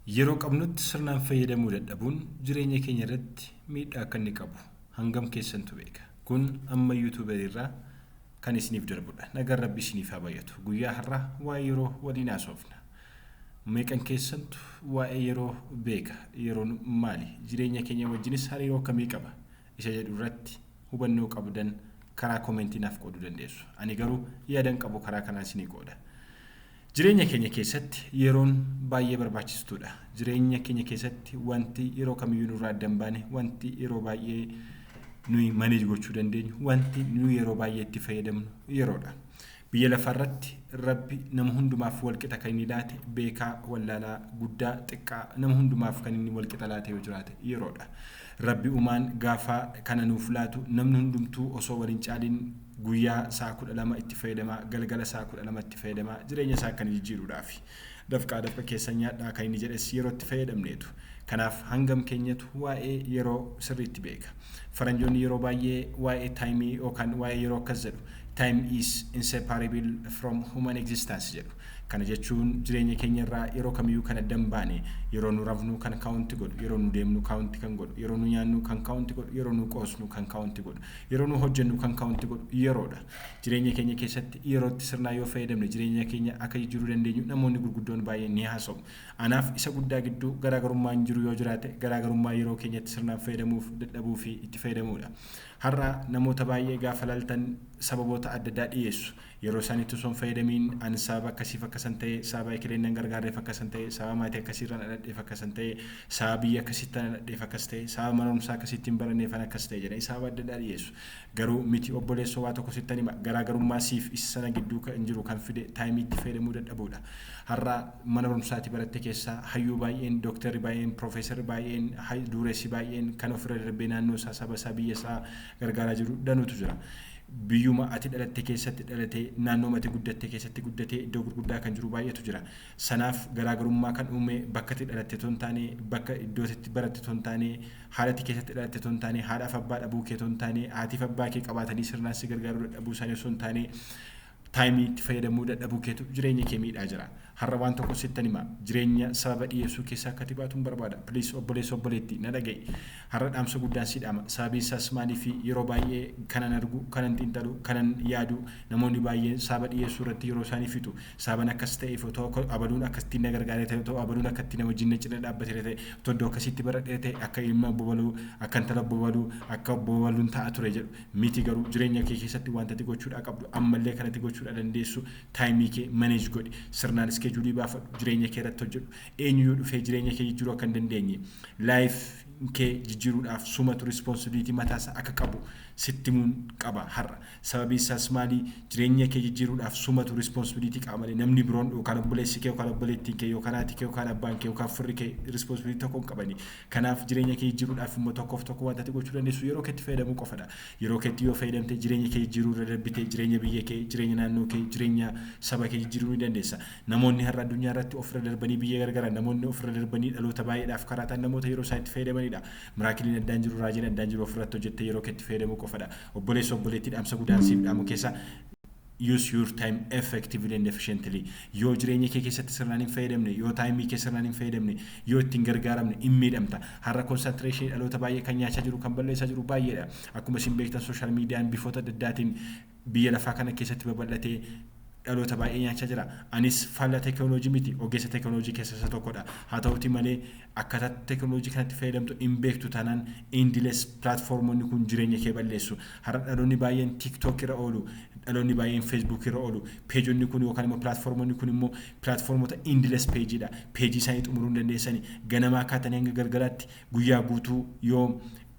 Yeroo qabnutti sirnaan fayyadamuu dadhabuun jireenya keenya irratti miidhaa akka inni qabu hangam keessantu beeka? Kun amma youtubery irraa kan isiniif darbudha. Nagaan Rabbii isiniif haa baay'atu. Guyyaa har'aa waa'ee yeroo waliin haasofna. Meeqan keessantu waa'ee yeroo beeka? Yeroon maali? Jireenya keenya wajjinis hariiroo akkamii qaba? Isa jedhu irratti hubannoo qabdan karaa komentii naaf qooduu dandeessu. Ani garuu yaadan qabu karaa kanaan isinii qooda. Jireenya keenya keessatti yeroon baay'ee barbaachistuudha. Jireenya keenya keessatti wanti yeroo kamiyyuu nurraa adda hin baane, wanti yeroo baay'ee nuyi manage gochuu dandeenyu, wanti nuyi yeroo baay'ee itti fayyadamnu yeroodha. Biyya lafaarratti Rabbi nama hundumaaf walqixa kan inni laate beekaa, wallaalaa, guddaa, xiqqaa nama hundumaaf kan inni walqixa laate yoo jiraate yeroodha. Rabbi uumaan gaafa kana nuuf laatu namni hundumtuu osoo wal hin caaliin Guyyaa sa'a 12 itti fayyadamaa, galgala sa'a 12 itti fayyadamaa, jireenya isaa kan jijjiiruudhaafi. Dafqaa dafqa keessan nyaadhaa kan inni jedhes yeroo itti fayyadamneetu. Kanaaf hangam keenyatu waa'ee yeroo sirriitti beeka? Faranjoonni yeroo baay'ee waa'ee time yookaan waa'ee yeroo akkas jedhu, Time is inseparable from human existence jedhu. Kana jechuun jireenya keenya irraa yeroo kamiyyuu kan adda hin baane, yeroo nu rafnu kan count godhu, yeroo nu deemnu count kan godhu, yeroo nu nyaannu kan count godhu, yeroo nu qoosnu kan count godhu, Yeroo nu hojjennu kan kaunti godhu yeroodha. Jireenya keenya keessatti yerootti sirnaan yoo fayyadamne jireenya keenya akka jijjiiruu dandeenyu namoonni gurguddoon baay'een ni haasa'u. Anaaf isa guddaa gidduu garaagarummaan jiru yoo jiraate garaagarummaa yeroo keenyatti sirnaan fayyadamuuf dadhabuu fi itti fayyadamuudha. Har'a namoota baay'ee gaafa laaltan sababoota adda addaa dhiyeessu. Yeroo sanitti osoo hin fayyadamiin an sababa akkasiif akka san ta'e, sababa ekeleen nan gargaarreef akka san ta'e, sababa maatii akkasiirra na dhadheef akka san ta'e, sababa biyya akkasiitti ana dhadheef akkas ta'e, sababa mana barumsaa akkasiitti hin baranneef an akkas ta'e jedhanii sababa adda addaa dhiyeessu. Garuu miti obboleessoo waa tokko sittan hima garaagarummaa siif isa sana gidduu kan jiru kan fide time itti fayyadamuu dadhabuudha. Har'a mana barumsaa ati baratte keessa hayyuu baay'een, doktarri baay'een, profeesarri baay'een, hay duureessi baay'een kan ofirra darbee naannoo isaa, saba isaa, biyya isaa gargaaraa jiru danuutu jira. Biyyuma ati dhalatte keessatti dhalatee, naannooma ati guddatte keessatti guddatee iddoo gurguddaa kan jiru baay'eetu jira. Sanaaf garaa garummaa kan uume bakka ati dhalatte otoo hin taane, bakka iddoo ati itti baratte otoo hin taane, haala ati keessatti dhalatte otoo hin taane, haadhaaf abbaa dhabuu kee otoo hin taane, haatiif abbaa kee qabaatanii sirnaan si gargaaruu dadhabuu isaanii osoo hin taane, Taayimii itti fayyadamuu dadhabuu keetu jireenya kee miidhaa jira. Har'a waan tokko sittan hima. Jireenya sababa dhiyeessuu keessaa akka ati baatun barbaada. Please obboleessa obboleetti na dhaga'i. Har'a dhaamsa guddaan si dhaama. Sababiin isaas maaliif yeroo baay'ee kanan argu, kanan xiinxalu, kanan yaadu namoonni baay'een sababa dhiyeessuu irratti yeroo isaanii fixu. Sababan akkas ta'eef otoo abaluun akkasitti na gargaaree ta'e, otoo abaluun akkatti na wajjin na cina dhaabbateera ta'e, otoo iddoo akkasiitti baradheera ta'e akka ilma obbo baluu, akka intala obbo baluu, akka obbo baluun ta'a ture jedhu. miti garuu jireenya kee keessatti wanta ati gochuudhaa qabdu ammallee kan ati gochuudhaa dandeessu time kee manage godhi sirnaan schedule baafadhu jireenya kee irratti hojjedhu eenyuyyuu dhufee jireenya kee jijjiruu akka hin dandeenye life kee jijjiruudhaaf sumatu responsibility mataa isaa akka qabu sitti himuun qaba har'a sababiin isaas maali jireenya kee jijjiruudhaaf sumatu responsibility qaba malee namni biroon yookaan obboleessi kee yookaan obboleettiin kee yookaan haati kee yookaan abbaan kee yookaan firri kee responsibility tokko hin qabani Kanaaf jireenya kee jijjiiruudhaaf immoo tokkoof tokko wanta ati gochuu dandeessu yeroo keetti fayyadamuu qofadha. Yeroo keetti yoo fayyadamte jireenya kee jijjiiruu irra darbitee jireenya biyya kee, jireenya naannoo kee, jireenya saba kee jijjiiruu ni dandeessa. Namoonni har'a addunyaa irratti of irra darbanii biyya gargaran, namoonni of irra darbanii dhaloota baay'eedhaaf karaa ta'an namoota yeroo isaanii itti fayyadamaniidha. Miraakiliin addaan jiru, raajiin addaan jiru of irratti hojjettee yeroo keetti fayyadamuu qofadha. Obboleessoo, obboleettii dhaamsa gudaan siif dhaamu keessa. Use your time effectively and efficiently. Yoo jireenya kee keessatti sirnaan hin fayyadamne, yoo taayimii kee sirnaan hin fayyadamne, yoo itti hin gargaaramne in miidhamta. Har'a concentration dhaloota baay'ee kan nyaachaa jiru, kan balleessaa jiru baay'eedha. Akkuma isin beektan social median bifoota adda addaatiin biyya lafaa kana keessatti babal'atee dhaloota baay'ee nyaachaa jira. Anis faallaa teekinooloojii miti, ogeessa teekinooloojii keessa isa tokkodha. Haa ta'uutii malee Akkaataa teknolojii kanatti fayyadamtu hin beektu taanaan endless platformonni kun jireenya kee balleessu. Har'a dhaloonni baay'een TikTok irra oolu, dhaloonni baay'een Facebook irra oolu. Peejonni kun yookaan immoo platformonni kun immoo platformota endless page dha. Peejii isaanii xumuruu hin dandeessani. Ganamaa kaatanii hanga galgalaatti guyyaa guutuu yoo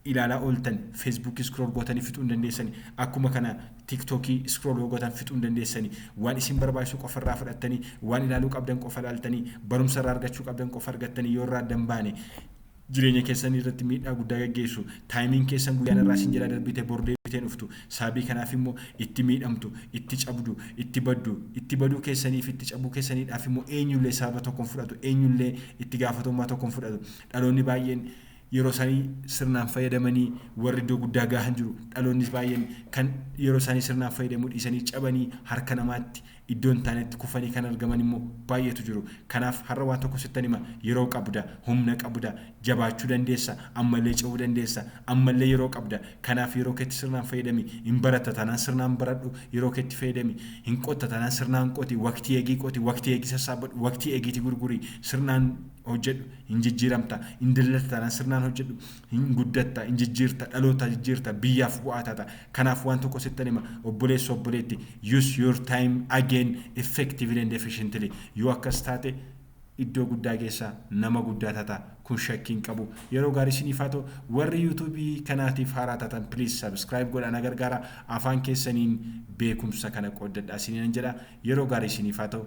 ilaalaa ooltan Facebook scroll gootanii fixuu hin dandeessani akkuma kana TikTok scroll yoo gootan fixuu hin dandeessani waan isin barbaachisu qofa irraa fudhattanii waan ilaaluu qabdan qofa ilaaltanii barumsa irraa argachuu qabdan qofa argattanii yoo irraa addan baane jireenya keessan irratti miidhaa guddaa gaggeessu taayimiin keessan guyyaan irraa isin jala darbite bor deebitee dhuftu saabii kanaaf immoo itti miidhamtu itti cabdu itti baddu itti baduu keessanii fi itti cabuu keessaniidhaaf immoo eenyullee sababa tokko hin fudhatu eenyullee itti gaafatamummaa tokko hin fudhatu dhaloonni baay'een yeroo isaanii sirnaan fayyadamanii warri iddoo guddaa gaahan jiru. Dhaloonnis baay'een kan yeroo isaanii sirnaan fayyadamuu dhiisanii cabanii harka namaatti iddoo hin taanetti kufanii kan argaman immoo baay'eetu jiru. Kanaaf har'a waan tokko sittan hima yeroo qabda, humna qabda, jabaachuu dandeessa, ammallee cehuu dandeessa, ammallee yeroo qabda. Kanaaf yeroo keetti sirnaan fayyadami. Hin baratta taanaan sirnaan baradhu, yeroo keetti fayyadami. Hin qotta taanaan sirnaan qoti, waqtii eegii qoti, waqtii eegii sassaabbadhu, waqtii eegiitii gurguri, sirnaan hojjedhu. Hin jijjiiramta, hin daldalta taanaan sirnaan hojjedhu, hin guddatta, hin jijjiirta, dhaloota jijjiirta, biyyaaf bu'aa taata. Kanaaf waan tokko sittan hima, obboleessa, obboleetti, use your time again effectively and efficiently. Yoo akkas taate iddoo guddaa geessa, nama guddaa taata. Kun shakkii hin qabu. Yeroo gaarii isiniif haa ta'u. Warri YouTube kanaatiif haaraa taatan please subscribe godhaa na gargaara. Afaan keessaniin beekumsa kana qooddadhaa isiniinan jedha. Yeroo gaarii isiniif haa ta'u.